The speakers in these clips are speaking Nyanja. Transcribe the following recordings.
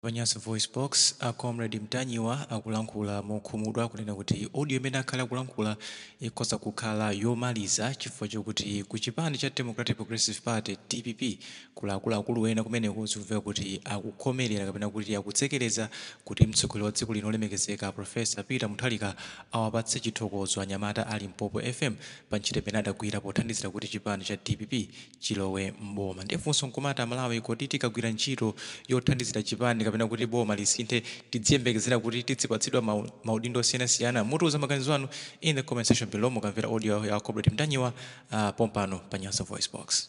Pa Nyasa VoiceBox, a Comrade Mtanyiwa akulankhula mokhumudwa kunena kuti audio imene akhala akulankhula ikhoza kukhala yomaliza chifukwa chokuti ku chipani cha Democratic Progressive Party, dpp, kuli akuluakulu ena kumeneko zikumveka kuti akukhomerera kapena kuti akutsekereza kuti mtsogoleri wa dziko lino olemekezeka Prof. Peter Mutharika awapatse chithokozo anyamata a Limpopo FM pa ntchito imene adagwira pothandizira kuti chipani cha dpp chilowe m'boma. Ndiye funso nkumati a Malawi kodi tikagwira ntchito yothandizira chipani kapena kuti boma lisinthe tidziyembekezera kuti tidzipatsidwa maudindo osiyanasiyana? Mutiuza maganizo anu in the comment section below mukamvera audio ya Comrade Mtanyiwa pompano pa Nyasa VoiceBox.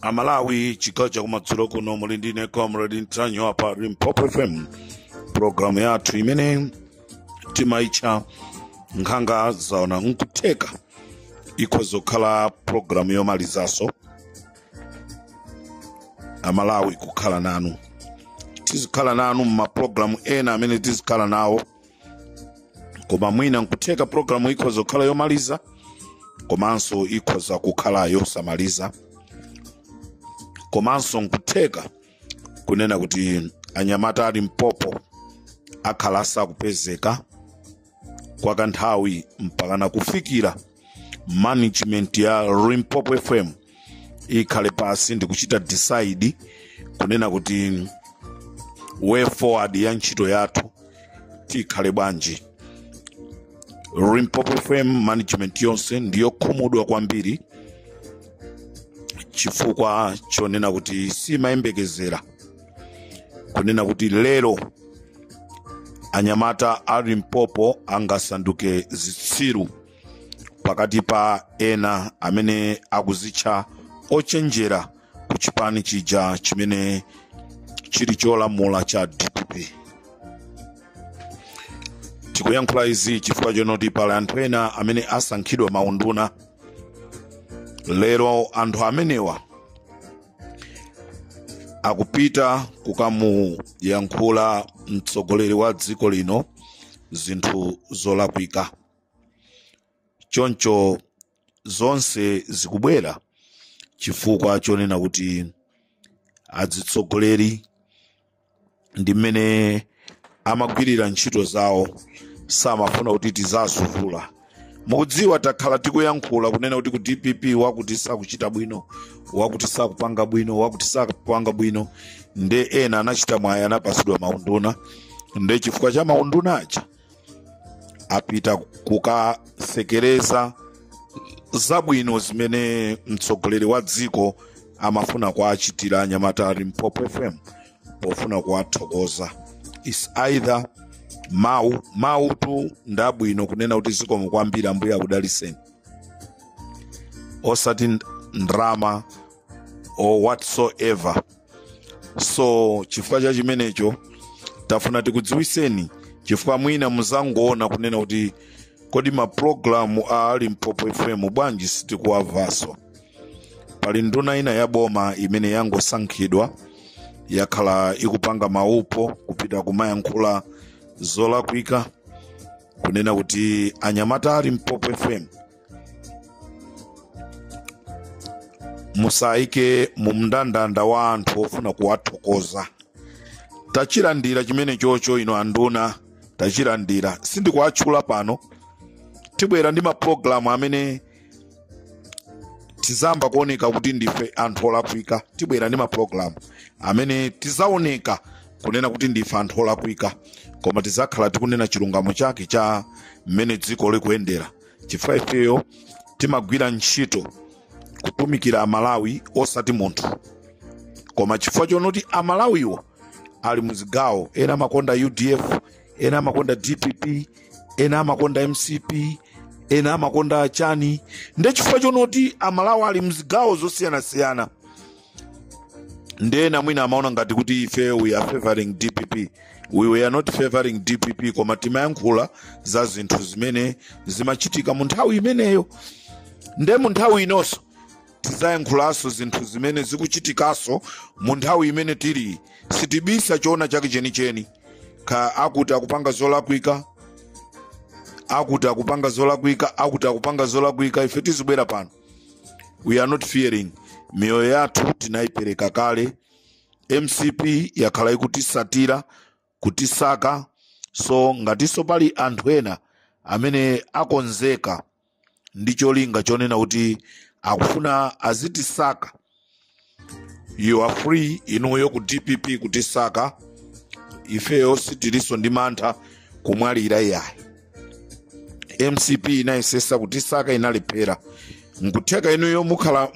amalawi chigawo chakumadzulo kuno muli ndine comrade mtanyiwa pa limpopo fm programu yathu imene timaitcha nkhanga zaona nkutheka ikhoza kukhala programu yomalizaso amalawi kukhala nanu tizikhala nanu mmaprogramu ena amene tizikhala nawo koma mwina nkutheka programu ikhoza kukhala yomaliza komanso ikhoza kukhala yosamaliza komanso nkutheka kunena kuti anyamata a limpopo akhala asakupezeka kwa kanthawi mpakana kufikira management ya limpopo fm ikhale pasi ndikuchita decide kunena kuti way forward ya ntchito yathu tikhale bwanji limpopo fm management yonse ndiyokhumudwa kwambiri chifukwa chonena kuti simayembekezera kunena kuti lero anyamata a limpopo angasanduke zitsiru pakati pa ena amene akuzitcha ochenjera ku chipani chija chimene chili cholamula cha dpp tikuyankhula izi chifukwa chonoti pali anthu ena amene asankhidwa maunduna lero anthu amenewa akupita kukamuyankhula mtsogoleri wa dziko lino zinthu zolakwika choncho zonse zikubwera chifukwa chonena kuti adzitsogoleri ndi mmene amagwirira ntchito zawo samafuna kuti tizazuvula mukudziwa takhala tikuyankhula kunena kuti ku dpp wakuti sakuchita bwino wakuti sakupanga bwino wakuti sakupanga bwino nde ena anachita mwayi anapasidwa maunduna nde chifukwa cha maunduna aja apita kukasekereza zabwino zimene mtsogoleri wa dziko amafuna kuwachitira anyamata a limpopo fm pofuna kuwathokoza is either mawu mawu tu ndabwino kunena kuti zikomo kwambiri ambuye akudaliseni osati ndrama or whatsoever so chifukwa cha chimenecho tafuna tikudziwiseni chifukwa mwina muzangoona kunena kuti kodi mapulogalamu a limpopo fm bwanji sitikuwamvanso pali nduna ina ya boma imene yangosankhidwa yakhala ikupanga maupo kupita kumayankhula zolakwika kunena kuti anyamata a limpopo fm musayike mu mndandanda wa anthu ofuna kuwathokoza tachilandira chimenecho inu anduna tachilandira sindikuwatchula pano tibwera ndi mapulogalamu amene tizamba kuoneka kuti ndife anthu olakwika tibwera ndi mapulogalamu amene tizaoneka kunena kuti ndife anthu olakwika koma tizakhala tikunena chilungamo chake cha mmene dziko likuyendera chifukwa ifeyo timagwira ntchito kutumikira amalawi osati munthu koma chifukwa chonoti amalawiwo ali muzigawo ena amakonda udf ena amakonda dpp ena amakonda mcp ena amakonda chani nde chifukwa chonoti amalawi ali mzigawo zosiyanasiyana ndena mwina amaona ngati kuti ife we are favoring dpp we are not favoring dpp koma timayankhula za zinthu zimene zimachitika mu nthawi imeneyo nde mu nthawi inonso tizayankhulanso zinthu zimene zikuchitikanso mu nthawi imene tili sitibisa choona chake chenicheni ka akuti akupanga zolakwika akuti akupanga zolakwika akuti akupanga zolakwika ife tizibwera pano we are not fearing miyoyo yathu tinayipereka kale mcp yakhala ikutisatira kutisaka so ngatinso pali anthu ena amene akonzeka ndi cholinga chonena kuti akufuna azitisaka you are free inuyo ku dpp kutisaka ifeyo sitilinso ndi mantha kumwalira iyayi mcp inayesesa kutisaka inalephera nkutheka inuyo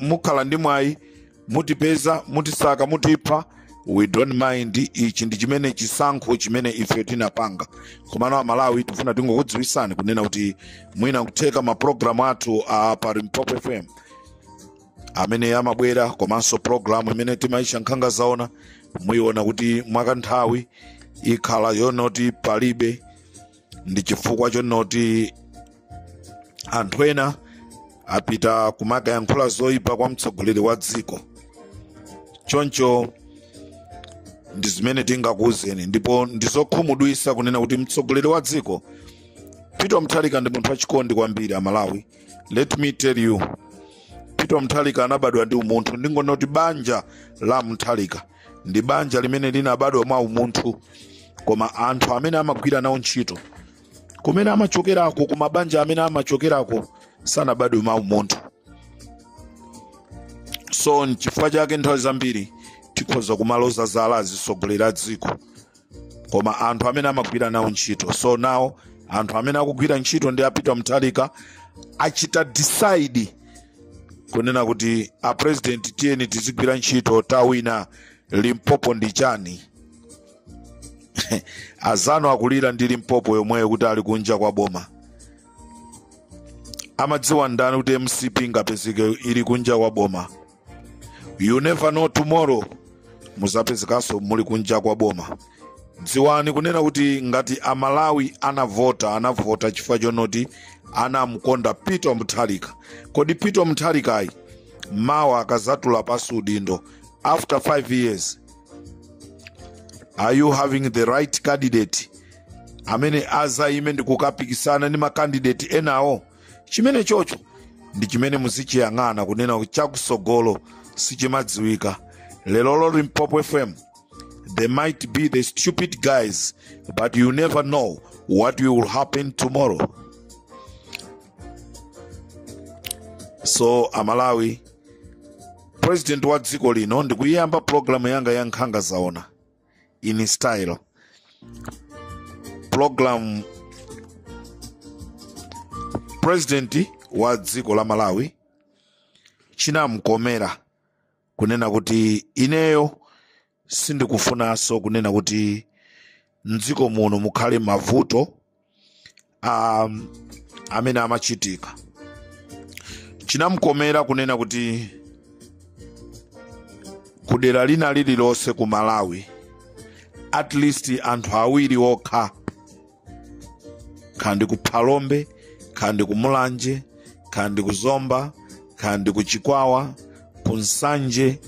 mukhala ndi mwayi mutipeza mutisaka mutipha we don't mind ichi ndi chimene chisankho chimene ife tinapanga komano amalawi tifuna tingokudziwisani kunena kuti mwina kutheka mapulogalamu athu a pa limpopo fm amene amabwera komanso programu imene timayitcha nkhanga zaona muyiona kuti mwakanthawi ikhala yonoti palibe ndi chifukwa chonoti anthu ena apita kumakayankhula zoyipa kwa mtsogoleri wa dziko choncho ndi zimene tingakuwuzeni ndipo ndizokhumudwitsa kunena kuti mtsogoleri wa dziko peter mutharika ndi munthu wachikondi kwambiri amalawi let me tell you peter mutharika anabadwa ndi umunthu ndingonena kuti banja la mutharika ndi banja limene linabadwa mwa umunthu koma anthu amene amagwira nawo ntchito kumene amachokerako ku mabanja amene amachokerako sanabadwe mwa umunthu so nchifukwa chake nthawi zambiri tikhoza kumaloza zala azitsogoleri a dziko koma anthu amene amagwira nawo ntchito so now anthu amene akugwira ntchito ndi a peter mutharika achita decide kunena kuti a president tiyeni tizigwira ntchito tawina limpopo ndi chani azanu akulira ndi limpopo yomweyo kuti ali kunja kwa boma amadziwa ndani kuti mcp ingapezeke ili kunja kwa boma you never know tomorrow muzapezekanso muli kunja kwa boma dziwani kunena kuti ngati amalawi anavota anavota chifukwa chonoti anamkonda peter mutharika kodi peter mutharikayi mawa akazatula pansi udindo after 5 years are you having the right candidate amene azayime ndi kukapikisana ndi makandidate enawo chimene chocho ndi chimene muzichiyang'ana kunena kuti chakusogolo sichimadziwika lerolo limpopo fm they might be the stupid guys but you never know what will happen tomorrow so amalawi president wa dziko lino ndikuyiyamba programu yanga ya nkhanga zaona in style program president wa dziko la malawi chinamkomera kunena kuti ineyo sindikufunanso kunena kuti mdziko muno mukhale mavuto um, amene amachitika chinamkomera kunena kuti kudera lina lililonse ku malawi at least anthu awiri okha kaya ndi ku phalombe kaya ndi ku mulanje kaya ndi ku zomba kaya ndi ku chikwawa ku nsanje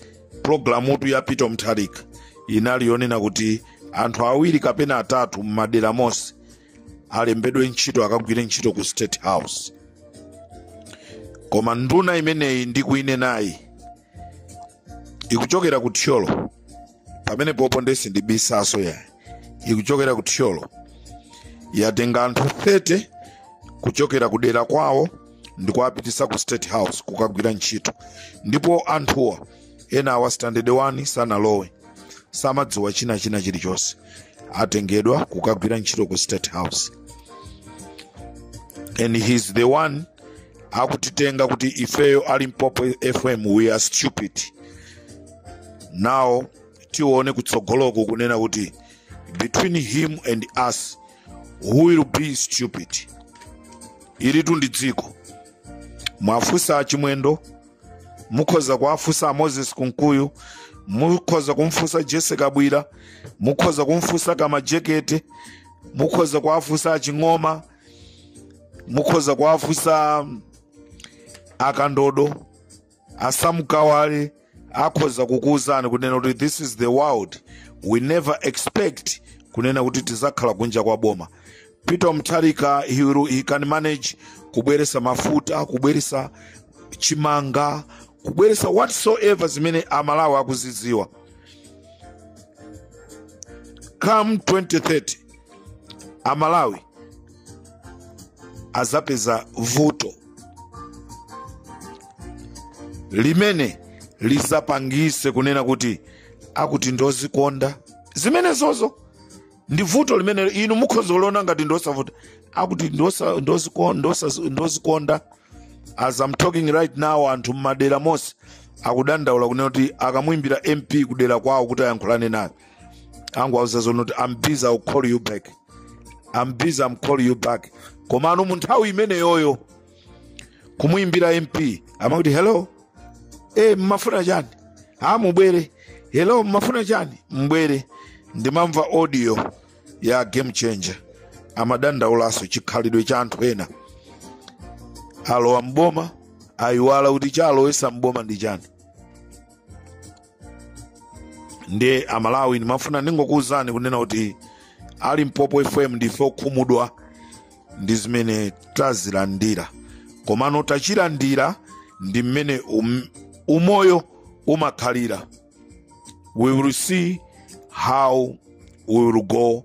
pulogalamutu ya peter mutharika inali yonena kuti anthu awiri kapena atatu m'madera monse alembedwe ntchito akagwire ntchito ku state house koma nduna imeneyi ndikuinenayi ikuchokera ku thyolo pamenepopo nde sindibisaso yayi ikuchokera ku thyolo yatenga anthu 30 kuchokera ku dera kwawo ndi kuwapitisa ku state house kukagwira ntchito ndipo anthuwa enawa standard 1 sanalowe samadziwa china china chilichonse atengedwa kukagwira ntchito ku state house and he's the one akutitenga kuti ifeyo a limpopo fm we are stupid now tione kutsogoloko kunena kuti between him and us who will be stupid ilitu ndi dziko mwafunsa achimwendo mukhoza kuwafunsa a moses kunkuyu mukhoza kumfunsa jessie kabwila mukhoza kumfunsa kamajekete mukhoza kuwafunsa aching'oma mukhoza kuwafunsa akandodo a sam kawale akhoza kukuwuzani kunena kuti this is the world we never expect kunena kuti tizakhala kunja kwa boma peter mutharika he, will- he can manage kubweresa mafuta kubweresa chimanga kubweresa whatsoever zimene amalawi akuzidziwa come 2030 amalawi azapeza vuto limene lizapangise kunena kuti akuti ndozikonda zimenezozo ndi vuto limene inu mukhoza kuliona ngati ndosavuta akuti ndozikonda as I'm talking right now anthu mmadera monse akudandaula kunena kuti akamuimbira mp kudera kwawo kuti ayankhulane naye angowauza zonoti am busy I'll call you back am busy am call you back komano mu nthawi imeneyoyo kumuimbira mp amakuti hello e mmafuna chani a mubwere hello mmafuna chani mbwere ndimamva audio ya game changer amadandaulanso chikhalidwe cha anthu ena alowa mboma ayiwala kuti chalowesa mboma ndi chani ndiye amalawi ndimafuna ndingokuwuzani kunena kuti a limpopo fm ndife okhumudwa ndi zimene tazilandira komano tachilandira ndi mmene um, umoyo umakhalira we will see how we will go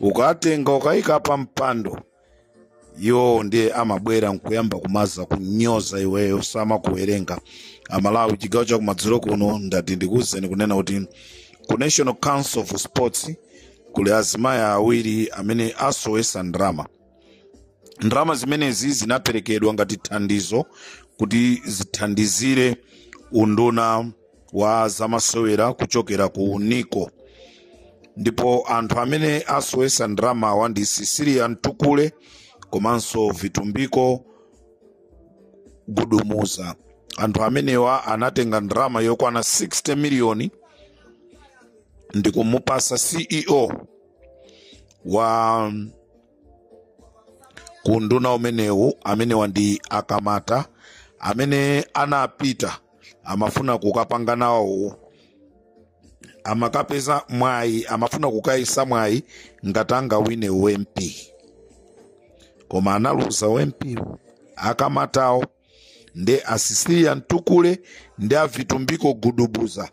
ukatenga ukayika pa mpando iwowo ndiye amabwera nkuyamba kumazakunyoza iweyo samakuwerenga amalawi chigawo chakumadzulo kuno ndati ndikuwuzeni kunena kuti ku national council of sports kuli azimayi awiri amene asowesa ndalama ndalama zimenezi zinaperekedwa ngati thandizo kuti zithandizire unduna wa zamasewera kuchokera ku nico ndipo anthu amene asowesa ndalamawa ndi cecilia mtukule komanso vitumbiko gudubuza anthu amenewa anatenga ndalama yokwana 60 miliyoni ndi kumupasa ceo wa kunduna umenewu amenewa ndi akamata amene anapita amafuna kukapanga nawo amakapeza mwayi amafuna kukayesa mwayi ngati angawine ump koma analuza ump akamatawo nde a cecilia mtukule ndi avitumbiko gudubuza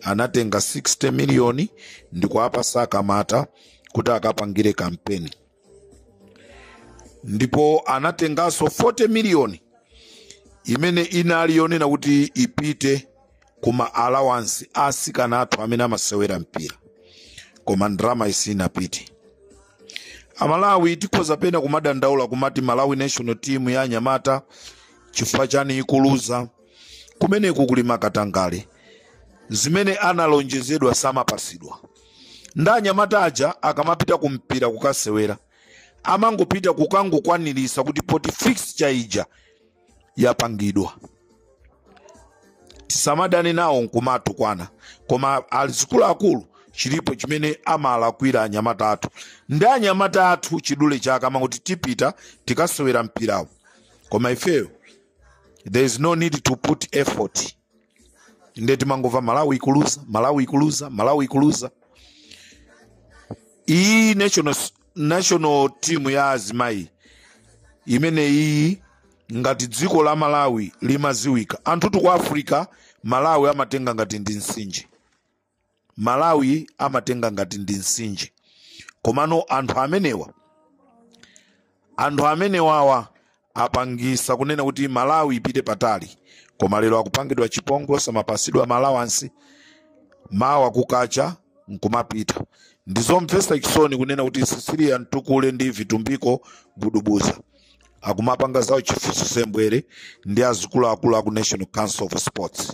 anatenga 60 miliyoni ndikuwapasa akamata kuti akapangire kampeni ndipo anatenganso 40 miliyoni imene inali yonena kuti ipite ku ma allowance a asikana athu amene amasewera mpira koma ndalamayi sinapite amalawi tikhoza pena kumadandaula kumati malawi national team ya anyamata chifukwa chani ikuluza kumeneku kuli makatangale zimene analonjezedwa samapasidwa nde anyamata aja akamapita ku mpira kukasewera amangopita kukangokwanirisa kuti poti fixture ija yapangidwa tisamadane nawo nkumatukwana koma azikuluakulu chilipo chimene amalakwira anyamata athu ndi anyamata athu chidule chake amangoti tipita tikasewera mpirawo koma ifeyo there is no need to put effort nde timangova malawi ikuluza malawi ikuluza malawi ikuluza iyi national team ya azimayi imene iyi ngati dziko la malawi limaziwika anthutu ku africa malawi amatenga ngati ndi nsinje malawi amatenga ngati ndi msinje komano anthu amenewa anthu amenewawa apangisa kunena kuti malawi ipite patali koma lero akupangidwa chipongwe samapasidwa ma allowance mawa kukacha nkumapita ndizomvesa chisoni kunena kuti cecilia mtukule ndi vitumbiko gudubuza akumapanga zawo chifuso sembwere ndi azikuluakulu aku national council of sports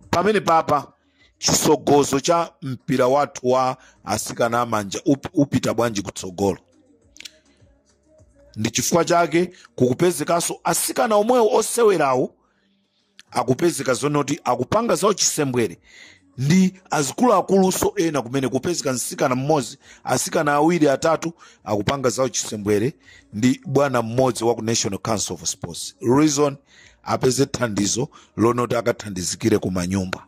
pamene papa chisogolo cha mpira wathu wa asikana amanja upita bwanji kutsogolo ndi chifukwa chake kukupezekanso asikana omwewo osewerawo akupezeka zonoti akupanga za uchisembwere ndi azikuluakulunso ena kumene kupezeka msikana mmodzi asikana awiri atatu akupanga za uchisembwere ndi bwana mmodzi wa ku national council of sports reason apeze thandizo lonoti akathandizikire kumanyumba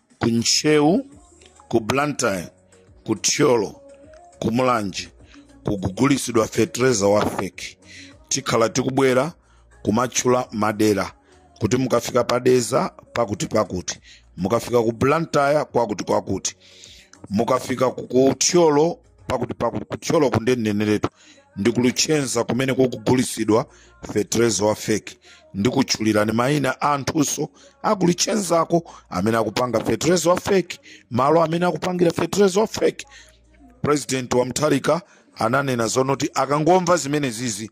ku ntcheu ku blantyre ku thyolo ku mulanje kukugulisidwa fetereza wa feki tikhala tikubwera kumatchula madera kuti mukafika pa dedza pakuti pakuti mukafika ku blantyre kwakuti kwakuti mukafika ku thyolo pakuti pakuti kuthyolo ku nde ndineneretu ndi ku luchenza kumene kukugulitsidwa fetereza wa feki ndikutchulirani mayina a anthunso aku luchenzako amene akupanga fetereza wa feki malo amene akupangira fetereza wa feki president wa mutharika ananena zonoti akangomva zimenezizi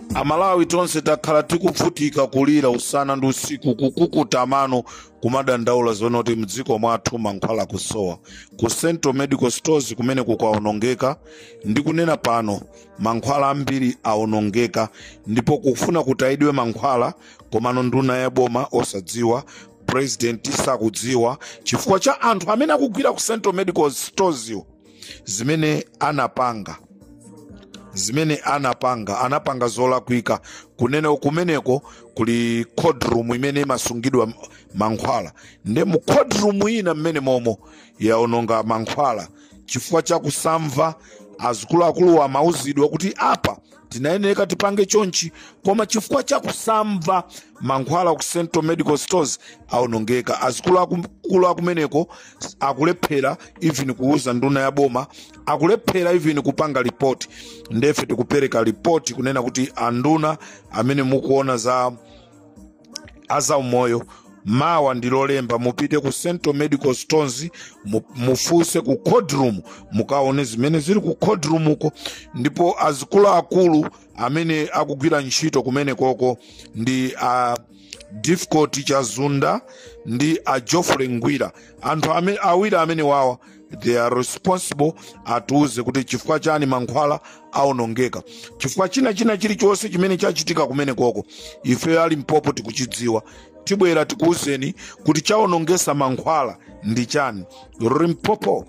amalawi tonse takhala tikuvutika kulira usana ndi usiku kukukuta mano kumadandaula zonoti mdziko mwathu mankhwala akusowa ku central medical stores kumene kukaonongeka ndikunena pano mankhwala ambiri aonongeka ndipo akufuna kutayidwe mankhwala komano nduna ya boma osadziwa president sakudziwa chifukwa cha anthu amene akugwira ku central medical stores yo zimene anapanga zimene anapanga anapanga zolakwika kunena kumeneko kuli cold room imene imasungidwa mankhwala nde mu cold room ina mmenemomo yaononga mankhwala chifukwa cha kusamva azikuluakulu amauzidwa kuti apa tinayeneka tipange chonchi koma chifukwa cha kusamva mankhwala ku central medical stores aonongeka azikuluakulu akumeneko akulephera even kuuza nduna ya boma akulephera even kupanga ripoti ndefe tikupereka ripoti kunena kuti anduna amene mukuona za zaumoyo mawa ndi lolemba mupite ku central medical stores mufunse ku cold room mukaone zimene zili ku cold room uko ndipo azikuluakulu amene akugwira ntchito kumenekoko ndi a difficult chazunda ndi a geoffrey ngwira anthu awiri amenewawa they are responsible atiuze kuti chifukwa chani mankhwala aonongeka chifukwa china china chilichonse chimene chachitika kumenekoko ife a limpopo tikuchidziwa tibwera tikuuzeni kuti chaonongesa mankhwala ndi chani limpopo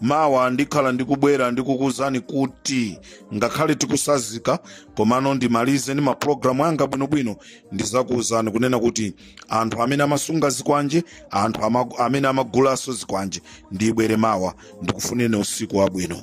mawa ndikhala ndikubwera ndikukuwuzani kuti ngakhale tikutsanzika komano ndimalize ndi mapulogalamu anga bwinobwino ndizakuwuzani kunena kuti anthu amene amasunga zikwanje anthu ama, amene amagulanso zikwanje ndibwere mawa ndikufunireni usiku wabwino